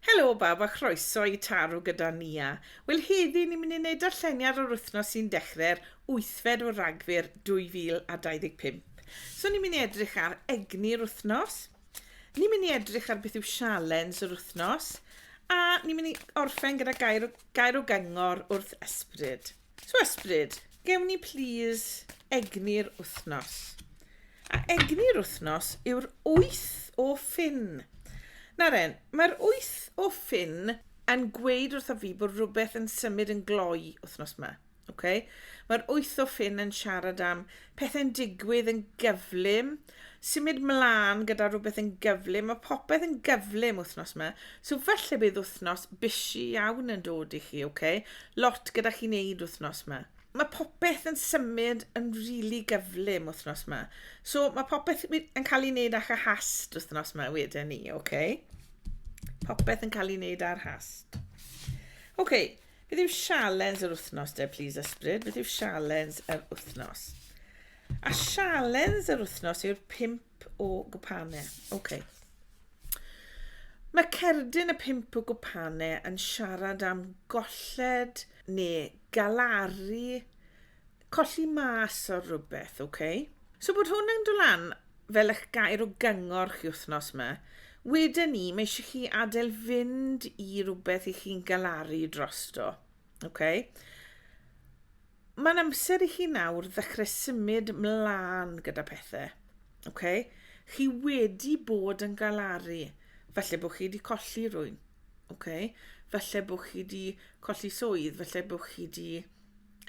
Helo bawb a chroeso i Taro gyda Nia. Wel heddi ni'n mynd i wneud darlleniad o'r wythnos sy'n dechrau'r wythfed o Ragfyr 2025. So ni'n mynd i edrych ar egni'r wythnos, ni'n mynd i edrych ar beth yw sialens yr wythnos a ni'n mynd i orffen gyda gair o, gair o gyngor wrth ysbryd. So ysbryd, gewn ni plîs egni'r wythnos. A egni'r wythnos yw'r wyth o ffin. Na ren, mae'r wyth o ffin yn gweud wrtho fi bod rhywbeth yn symud yn gloi wythnos yma. Okay? Mae'r wyth o ffin yn siarad am pethau'n digwydd yn gyflym, symud mlân gyda rhywbeth yn gyflym, mae popeth yn gyflym wythnos yma, so falle bydd wythnos busy iawn yn dod i chi, oce? Okay? Lot gyda chi'n neud wythnos yma. Mae popeth yn symud yn rili really gyflym wythnos yma, so mae popeth yn cael ei wneud â'ch hast wythnos yma wedyn ni, oce? Okay? Popeth yn cael ei wneud ar hast. Oce, okay, Beth yw sialens yr wythnos de, plis ysbryd? Beth yw sialens yr wythnos? A sialens yr wythnos yw'r pimp o gwpanau. Oce. Okay. Mae cerdyn y pimp o gwpanau yn siarad am golled neu galaru colli mas ar rhywbeth, oce? Okay? So bod hwn yn dolan fel eich gair o gyngor chi wythnos yma. Wedyn ni, mae eisiau chi adael fynd i rhywbeth i chi'n galaru drosto. Okay? Mae'n amser i chi nawr ddechrau symud mlaen gyda pethau. Okay? Chi wedi bod yn galaru. Falle bod chi wedi colli rwy'n. Okay? Falle bod chi wedi colli swydd. Falle bod chi wedi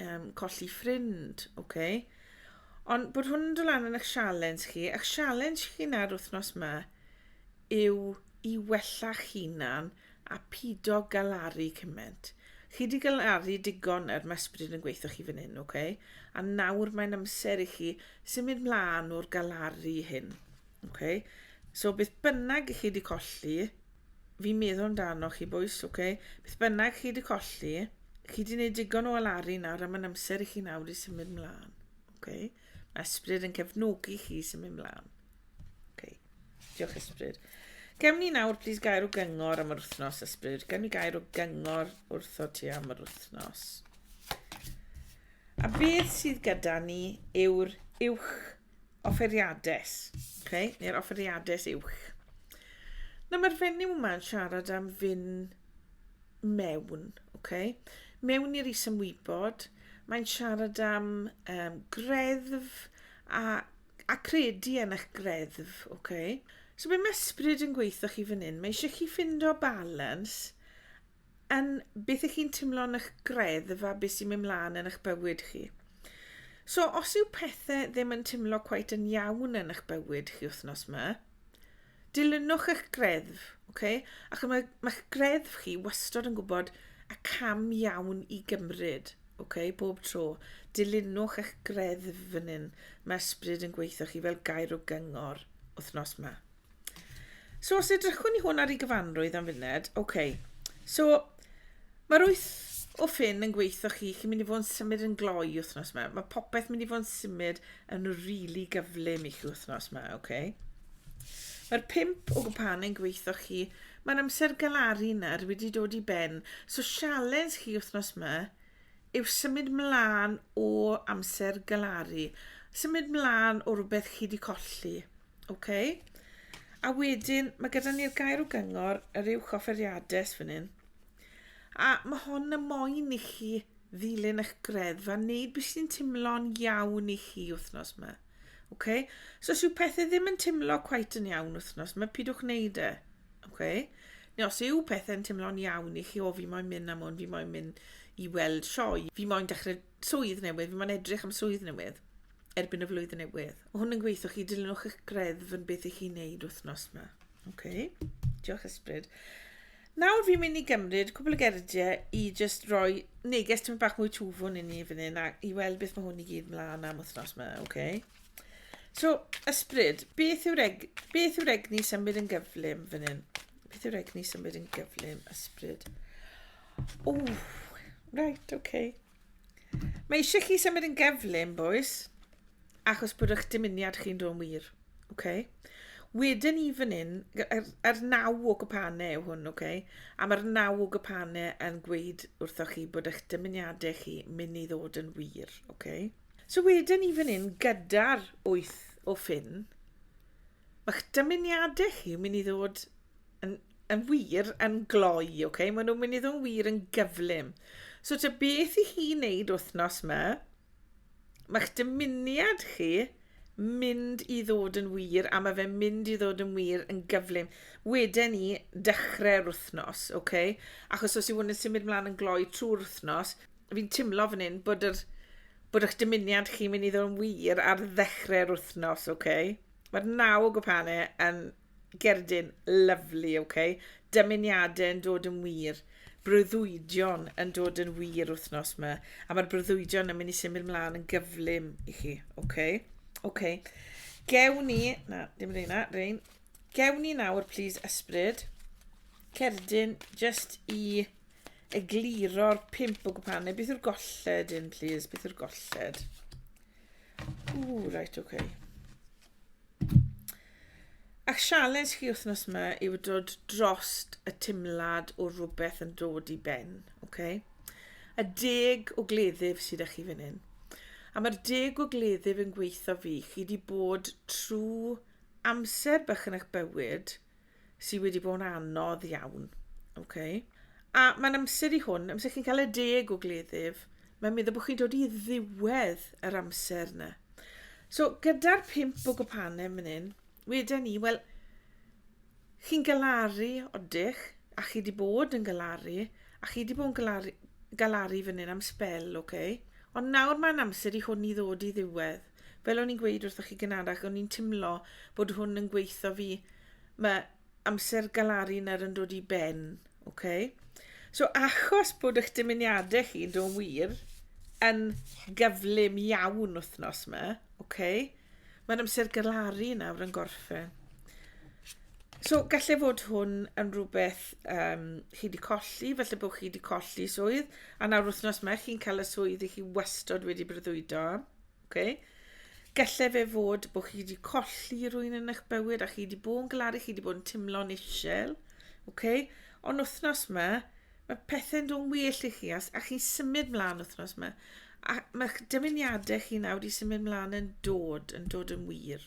Um, colli ffrind, oce. Okay. Ond bod hwn yn dylan yn eich sialens chi, eich sialens chi na'r wythnos yma yw i wella'ch hunan a pido galaru cymaint. Chi wedi galaru digon er mae ysbryd yn gweithio chi fan hyn, oce? Okay? A nawr mae'n amser i chi symud mlaen o'r galaru hyn, oce? Okay? So beth bynnag i chi wedi colli, Fi'n meddwl amdano chi bois, oce? Beth bynnag chi wedi colli, chi wedi gwneud digon o alaru nawr am yn amser i chi nawr i symud mlaen. Oce? Mae ysbryd yn cefnogi chi i symud mlaen. Oce. Diolch ysbryd. Gewn ni nawr, plis, gair o gyngor am yr wythnos, ysbryd. Gewn ni gair o gyngor wrtho ti am yr wythnos. A beth sydd gyda ni yw'r uwch offeriades, okay, neu'r offeriades uwch. Nawr mae'r fenyw yma yn siarad am fyn mewn, okay? mewn i'r isymwybod, mae'n siarad am um, greddf a, a credu yn eich greddf. Okay? So be mae ysbryd yn gweithio chi fan hyn? Mae eisiau chi ffindo balans Yn beth ych chi'n timlo'n ych greddf a beth sy'n mynd mlaen yn ych bywyd chi. So, os yw pethau ddim yn timlo cweit yn iawn yn ych bywyd chi wythnos yma, dilynwch ych greddf, okay? ac mae, mae'ch greddf chi wastod yn gwybod y cam iawn i gymryd, okay? bob tro. Dilynwch eich greddf fan hyn. Mae ysbryd yn gweithio chi fel gair o gyngor wythnos yma. So os edrychwn ni hwn ar ei gyfanrwydd am funed, oce. Okay. So mae'r wyth o ffyn yn gweithio chi, chi'n mynd i fod yn symud yn gloi wythnos yma. Mae popeth mynd i fod yn symud yn rili really gyflym i chi wythnos yma, oce. Okay. Mae'r pimp o gwpan yn gweithio chi, mae'r amser galaru na'r wedi dod i ben. So sialens chi wythnos yma yw symud mlaen o amser galaru, symud mlaen o rhywbeth chi wedi colli. OK. A wedyn, mae gyda ni'r gair o gyngor, yr uwch offeriades fan hyn. A mae hon y moyn i chi ddilyn eich greddfa, wneud beth sy'n timlo'n iawn i chi wythnos yma. Okay? So os yw pethau ddim yn timlo cwait yn iawn wythnos, mae pidwch wneud e. Okay? Neu os yw pethau'n timlo'n iawn i chi, o fi moyn mynd am hwn, fi moyn mynd i weld sioe, fi moyn dechrau swydd newydd, fi mae'n edrych am swydd newydd erbyn y flwyddyn newydd. O hwn yn gweithio chi, dilynwch eich greddf yn beth i chi'n neud wythnos yma. OK, diolch ysbryd. Nawr fi'n mynd i gymryd cwbl o gerdiau i just roi neges ti'n bach mwy twfwn i ni fan hyn a i weld beth mae hwn i gyd mlaen am wythnos yma, OK? So, ysbryd, beth yw'r eg beth yw'r egni symud yn gyflym fan hyn? Beth yw'r egni symud yn gyflym, ysbryd? O, right, ok. Mae eisiau chi symud yn geflun, boys, achos bod eich dymuniad chi'n dod yn wir. Ok? Wedyn ni fan hyn, yr, yr naw o gypanau yw hwn, ok? A mae'r naw o gypanau yn gweud wrthoch chi bod eich dymuniadau chi mynd i ddod yn wir, ok? So wedyn ni fan hyn gyda'r wyth o ffyn, Mae'ch dymuniadau chi yn mynd i ddod yn, yn wir yn gloi, oce? Okay? Mae nhw'n mynd i ddod wir yn gyflym. So ta beth i chi wneud wythnos yma, mae'ch dymuniad chi mynd i ddod yn wir a mae fe'n mynd i ddod yn wir yn gyflym. Wedyn ni, dechrau'r wythnos, oce? Okay? Achos os yw hwn yn symud mlaen yn gloi trwy'r wythnos, fi'n timlo fan hyn bod yr bod eich dymuniad chi'n mynd i ddod yn wir ar ddechrau'r wythnos, oce? Okay? Mae'r naw o gwpane yn gerdyn lyfli, ok? Dymuniadau yn dod yn wir. Breuddwydion yn dod yn wir wythnos yma. A mae'r breuddwydion yn mynd i symud mlaen yn gyflym i chi, ok? Ok. Gewn ni... Na, dim reina, rein. Gewn ni nawr, please, ysbryd. Cerdyn, just i egluro'r pimp o gwpane. Beth yw'r golled un, please? Beth yw'r golled? Ww, reit, oce. Okay. A'ch sialens chi wythnos yma yw dod dros y timlad o rhywbeth yn dod i ben, oce? Okay? A deg o gleddyf sydd â chi fan hyn. A mae'r deg o gleddyf yn gweithio fi. Chi wedi bod trwy amser bach yn eich bywyd – sydd wedi bod yn anodd iawn. Okay. A mae'n amser i hwn, amser chi'n cael y deg o gleddyf, mae'n meddwl bod chi'n dod i ddiwedd yr amser yna. So, gyda'r pimp o gwpanem yn hyn, wedyn ni, wel, chi'n galaru odych, a chi wedi bod yn galaru, a chi wedi bod yn galaru, galaru fan hyn am spel, oce? Okay? Ond nawr mae'n amser i hwn i ddod i ddiwedd. Fel o'n i'n gweud wrthoch chi gynharach, o'n i'n timlo bod hwn yn gweitho fi. Mae amser galaru nawr yn dod i ben, oce? So achos bod eich dymuniadau chi, do wir, yn gyflym iawn wythnos yma, oce? Mae'n amser galaru nawr yn gorffen. So gallai fod hwn yn rhywbeth um, chi wedi colli, felly bod chi wedi colli swydd, a nawr wythnos yma chi'n cael y swydd i chi wastod wedi breuddwydo am. Okay? Gelle fe fod bod chi wedi colli rwy'n yn eich bywyd a chi wedi bod yn galaru, chi wedi bod yn timlo'n isel. Okay? Ond wythnos yma, mae pethau'n dod yn well i chi a, a chi'n symud mlaen wythnos yma. A mae'ch dymuniadau chi nawr wedi symud mlaen yn dod, yn dod yn wir.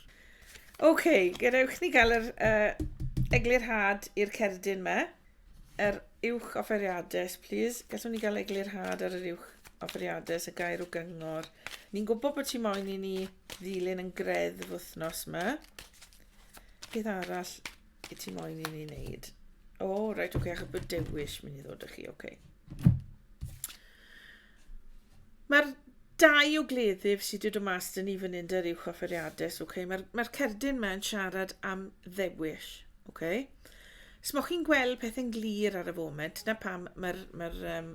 OK, gadewch ni gael yr uh, eglurhad i'r cerdyn yma. Yr uwch offeriades, plîs. Gallwn ni gael eglurhad ar yr uwch offeriades, y gair o gyngor. Ni'n gwybod bod ti moyn i ni ddilyn yn greddf wythnos yma. Beth arall i ti moyn i ni wneud? O, oh, reit, oce, okay, achos bod dewis mynd i ddod â chi, oce. Okay. Mae'r dau o gleddyf sydd wedi dod mas dyn ni fan hyn dy'r uwch offeriadus, okay? mae'r mae cerdyn mae'n siarad am ddewis. Okay? Smoch chi'n gweld pethau'n glir ar y foment? Dyna pam mae'r, mae'r um,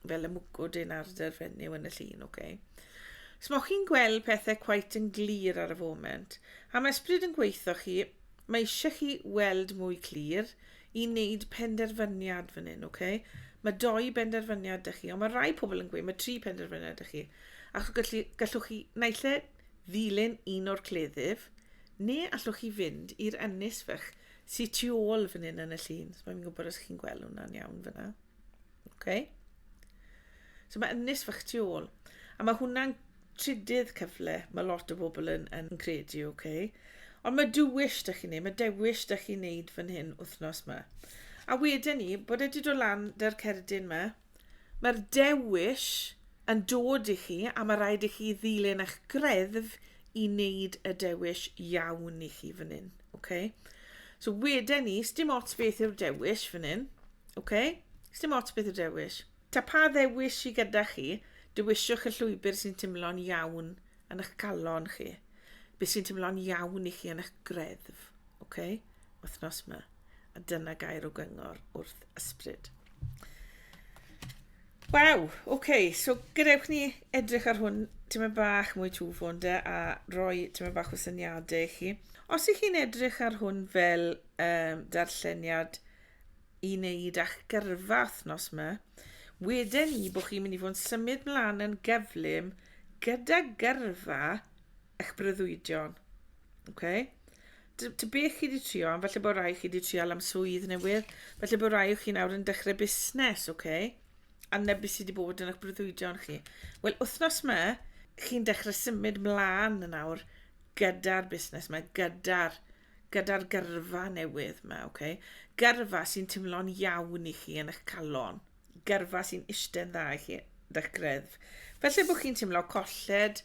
fel y mwgwd yn ar dy fenyw yn y llun, oce? Okay? Smoch chi'n gweld pethau cwait yn glir ar y foment? A mae ysbryd yn gweithio chi, mae eisiau chi weld mwy clir i wneud penderfyniad fan hyn, oce? Okay? Mae doi benderfyniad ydych chi, ond mae rai pobl yn gweud mae tri penderfyniad ydych chi. Ac gallu, gallwch chi naill e ddilyn un o'r cleddyf, neu allwch chi fynd i'r ynys fych sy tu ôl fan hyn yn y llun. So mae'n gwybod os chi'n gweld hwnna'n iawn fyna. Okay. So mae ynys fach tu ôl. A mae hwnna'n trydydd cyfle, mae lot o bobl yn, yn credu, oce? Okay? Ond mae dywys da chi'n neud, mae dewis da chi'n neud fan hyn wythnos yma. A wedyn ni, bod e wedi dod lan da'r cerdyn yma, Mae'r dewis yn dod i chi a mae rhaid i chi ddilyn eich greddf i wneud y dewis iawn i chi fan hyn. Okay? So wedyn ni, sdim ots beth yw'r dewis fan hyn. Okay? Sdim ots beth yw'r dewis. Ta pa ddewis sydd gyda chi, dewisiwch y llwybr sy'n teimlo'n iawn yn eich calon chi. Beth sy'n teimlo'n iawn i chi yn eich greddf. Ok, wythnos 'ma. A dyna gair o gyngor wrth ysbryd. Waw, oce, okay, so gadewch ni edrych ar hwn tyma bach mwy twfwn de a roi tyma bach o syniadau i chi. Os ych chi'n edrych ar hwn fel um, darlleniad i wneud a'ch gyrfa wythnos yma, wedyn ni bod chi'n mynd i fod yn symud mlaen yn gyflym gyda gyrfa eich breuddwydion. Oce. T- T be chi 'di trio am? Falle bod rai chi 'di trial am swydd newydd. Falle bod rai o chi nawr yn dechrau busnes, oce? A na be sy 'di bod yn eich breuddwydion chi. Wel, wythnos 'ma, chi'n dechrau symud mlaen yn awr gyda'r busnes 'ma, gyda'r gyda'r gyrfa newydd 'ma, oce? Gyrfa sy'n timlo'n iawn i chi yn eich calon. gyrfa sy'n iste'n dda i chi da'ch greddf. Felly bod chi'n teimlo colled,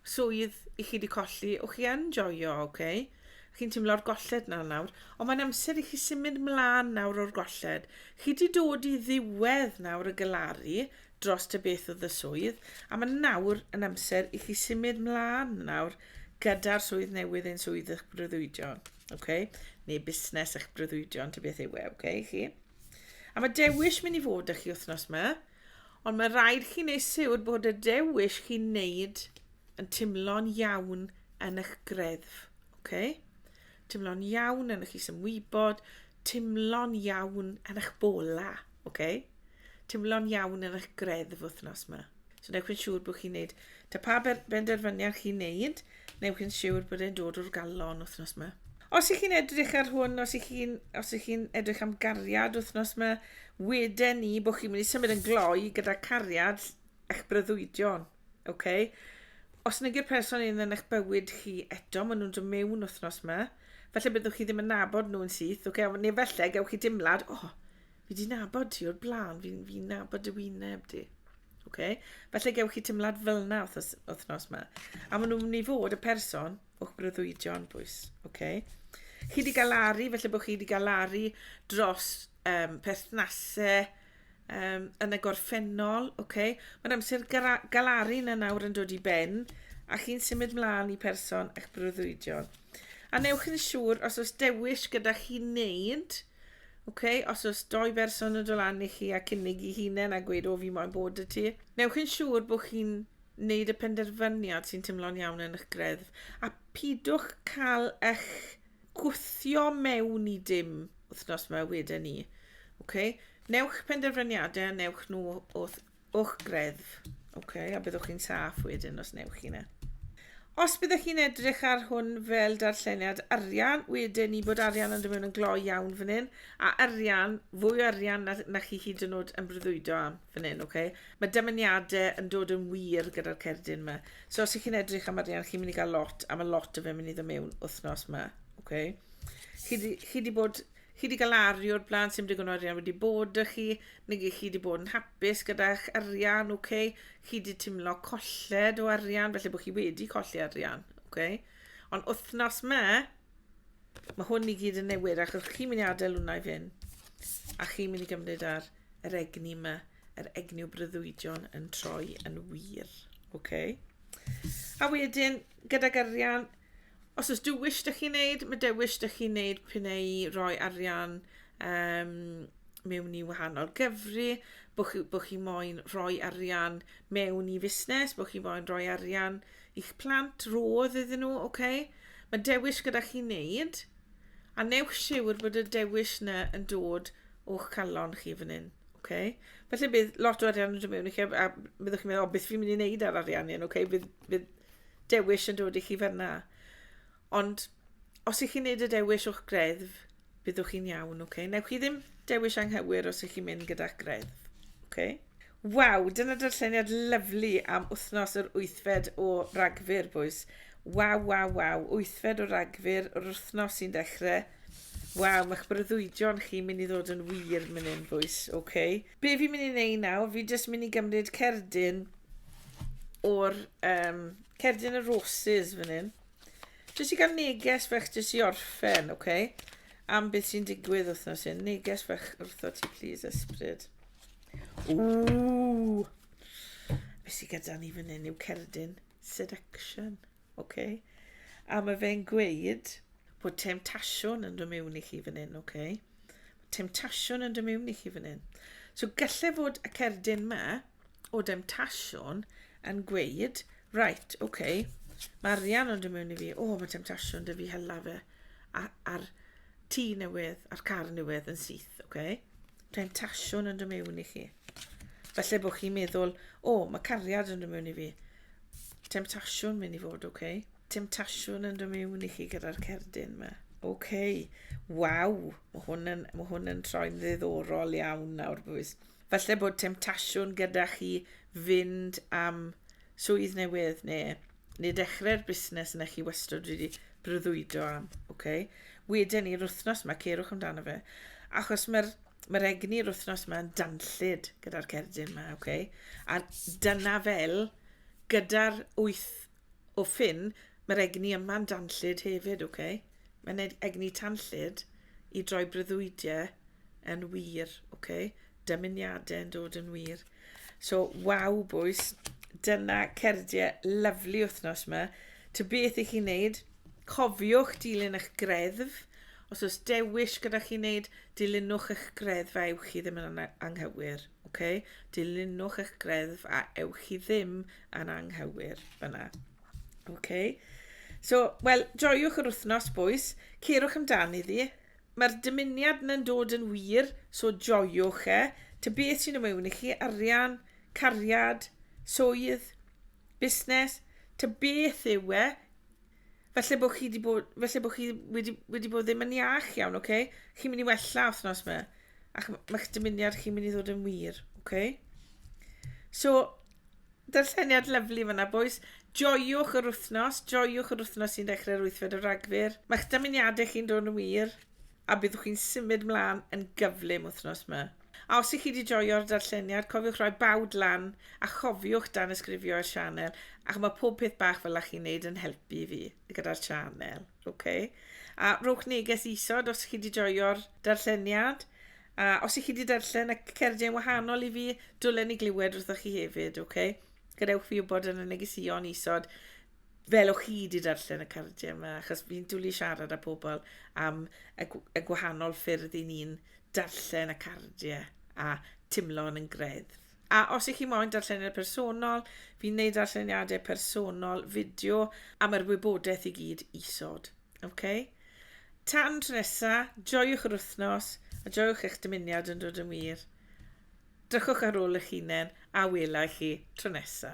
swydd i chi wedi colli, o chi yn joio, oce? Okay? Chi'n teimlo'r golled na nawr, ond mae'n amser i chi symud mlaen nawr o'r golled. Chi wedi dod i ddiwedd nawr y galaru dros y beth oedd y swydd, a mae nawr yn amser i chi symud mlaen nawr gyda'r swydd newydd ein swydd eich breuddwydion, okay? neu busnes eich breuddwydion, ty beth yw e, okay, chi? A mae dewis mynd i fod â chi wythnos yma, ond mae rhaid chi wneud siwr bod y dewis chi'n wneud yn timlo'n iawn yn eich greddf. Okay? Timlo'n iawn yn eich isymwybod, timlo'n iawn yn eich bola. Okay? Timlo'n iawn yn eich greddf wythnos yma. So newch yn siŵr bod chi'n neud, ta pa benderfyniad chi'n neud, newch yn siŵr bod e'n dod o'r galon wythnos yma. Os ych chi'n edrych ar hwn, os ych chi'n chi edrych am gariad wythnos yma, weden ni bod chi'n mynd i symud yn gloi gyda cariad eich breuddwydion. Okay? Os nag yw'r person un yn eich bywyd chi eto, maen nhw'n dod mewn wythnos yma, felly byddwch chi ddim yn nabod nhw'n syth, okay? neu felly gewch chi dimlad, o, oh, Fi 'di nabod ti o'r blaen, fi'n fi nabod dy wyneb di. Oce? Falle gewch chi teimlad fel yna wthnos, wthnos ma. A maen nhw'n mynd i fod y person o'ch breuddwydion bwys. Oce? Chi 'di gael laru, felly bod chi 'di gael laru dros um, perthnasau um, yn y gorffennol. Oce? Mae'n amser gara- galaru na nawr yn dod i ben a chi'n symud mlaen i person eich breuddwydion. A newch yn siŵr os oes dewis gyda chi wneud Ok, os oes doi berson yn dolan i chi a cynnig i hunain a gweud o fi moyn bod y ti, newch yn siŵr bod chi'n wneud y penderfyniad sy'n tymlo'n iawn yn eich greddf a pidwch cael eich gwthio mewn i dim wythnos mae wedyn ni. Ok, newch penderfyniadau a newch nhw wrth O'ch greddf. OK, a byddwch chi'n saff wedyn os newch chi yna. Os byddwch chi'n edrych ar hwn fel darlleniad arian, wedyn ni bod arian yn dod yn gloi iawn fan hyn, a arian, fwy o arian na, na chi hyd yn oed yn breuddwydo am fan hyn, okay? Mae dymuniadau yn dod yn wir gyda'r cerdyn yma. So os ych chi'n edrych am arian, chi'n mynd i gael lot, a mae lot o fe'n mynd i ddod mewn wythnos yma, okay? Chi di, chi di bod Chi wedi cael aru o'r blaen, sy'n digon o arian wedi bod y chi, neu chi wedi bod yn hapus gyda'ch arian, okay? chi wedi timlo colled o arian, felly bod chi wedi colli arian. Okay? Ond wythnos me, mae hwn i gyd yn newid, achos chi'n mynd i adael hwnna i fyn, a chi'n mynd i gymryd ar yr egni me, yr egni o brydduidion yn troi yn wir. Okay? A wedyn, gyda gyrian, Os oes dewis dych chi'n neud, mae dewis dych chi'n neud pyn ei roi arian um, mewn i wahanol gyfri, bod chi, bo chi moyn rhoi arian mewn i fusnes, bod chi moyn rhoi arian i'ch plant, roedd iddyn nhw, oce? Okay? Mae dewis gyda chi wneud, a newch siwr bod y dewis yna yn dod o'ch calon chi fan hyn. Okay. Felly bydd lot o arian yn dod mewn i chi, a byddwch chi'n meddwl, o, beth fi'n mynd i wneud ar arian hyn, okay? bydd, bydd dewis yn dod i chi fanna. Ond os ych chi'n neud y dewis o'ch greddf, byddwch chi'n iawn, ok? Newch chi ddim dewis anghywir os ych chi'n mynd gyda'ch greddf, ok? Waw, dyna darlleniad lyflu am wythnos yr wythfed o Ragfyr, boys. Waw, waw, waw, wythfed o Ragfyr, yr wythnos sy'n dechrau. Waw, mae'ch breuddwydion chi'n mynd i ddod yn wir mynd yn fwys, oce. Okay. Be fi'n mynd i wneud nawr, fi jyst mynd i gymryd cerdyn o'r um, cerdyn y roses fan hyn. Jyst i gael neges fech jyst i orffen, oce? Okay? Am beth sy'n digwydd wythnos hyn. Neges fech wrtho ti, please, ysbryd. Ww! Be sy'n gyda ni fan hyn yw cerdyn seduction. Ok. A mae fe'n gweud bod temtasiwn yn dod mewn i chi fan hyn, ok. Temtasiwn yn dod mewn i chi fan hyn. So gallai fod y cerdyn ma o demtasiwn yn gweud, right, ok, mae arian yn dod mewn i fi, o, oh, mae temtasiwn dy fi hela fe a'r tŷ newydd, a'r car newydd yn syth, ok. Temtasiwn yn dod mewn i chi. Felly bod chi'n meddwl, o, oh, mae cariad yn rhywun i fi. Temtasiwn mynd i fod, oce? Okay? Temtasiwn yn rhywun i chi gyda'r cerdyn yma. Oce, okay. waw, mae hwn yn, ma hwn yn troi'n ddiddorol iawn nawr, bwys. Felly bod temtasiwn gyda chi fynd am swydd newydd neu neu dechrau'r busnes yna chi wastad wedi breuddwydo am, ok? Wedyn i'r wythnos yma, ceirwch amdano fe. Achos mae'r mae egni'r wythnos yma yn danllid gyda'r cerdyn yma, ok? A dyna fel, gyda'r wyth o ffin, mae'r egni yma'n danllid hefyd, ok? Mae'n egni tanllid i droi breuddwydiau yn wir, ok? Dymuniadau yn dod yn wir. So, waw, bwys. Dyna cerdiau lyflu wythnos yma. Ty beth i chi wneud? Cofiwch dilyn eich greddf. Os oes dewis gyda chi wneud, dilynwch eich greddf a ewch chi ddim yn anghywir. Okay? Dilynwch eich greddf a ewch chi ddim yn anghywir. Fyna. Okay? So, wel, joiwch yr wythnos, bwys. Cerwch amdani ddi. Mae'r dymuniad na'n dod yn wir, so joiwch e. Ta beth sy'n y mewn i chi, arian, cariad, swydd, busnes, ta beth yw e, falle bod chi, bod, falle bod chi wedi, wedi bod ddim yn iach iawn, oce? Okay? Chi'n mynd i wella wythnos yma, ac mae'ch dymuniad chi'n mynd i ddod yn wir, oce? Okay? So, Darlleniad lyfli fyna bois. Joiwch yr wythnos, joiwch yr wythnos sy'n dechrau'r 8fed o Ragfyr. Mae'ch dymuniadau chi'n dod yn wir a byddwch chi'n symud mlaen yn gyflym wythnos yma. A os ych chi wedi joio'r darlleniad, cofiwch rhoi bawd lan a chofiwch dan ysgrifio i'r sianel, ac mae pob peth bach fel chi'n neud yn helpu fi gyda'r sianel. Ok. A rhowch neges isod os chi wedi joio'r darlleniad. A os i chi wedi darllen y cerdyn wahanol i fi, dwlen i glywed wrthoch chi hefyd, ok? Gadewch fi wybod yn y negesion isod fel o'ch chi wedi darllen y cardiau yma, achos fi'n dwlu siarad â pobl am y, y gwahanol ffyrdd i ni'n darllen y cardiau a timlo'n yn greddf. A os ych chi moyn darlleniad personol, fi'n gwneud darlleniadau personol fideo a mae'r wybodaeth i gyd isod. Okay? Tan tro nesa, joiwch yr wythnos a joiwch eich dymuniad yn dod yn wir. Drychwch ar ôl eich hunain a wela i chi tro nesa.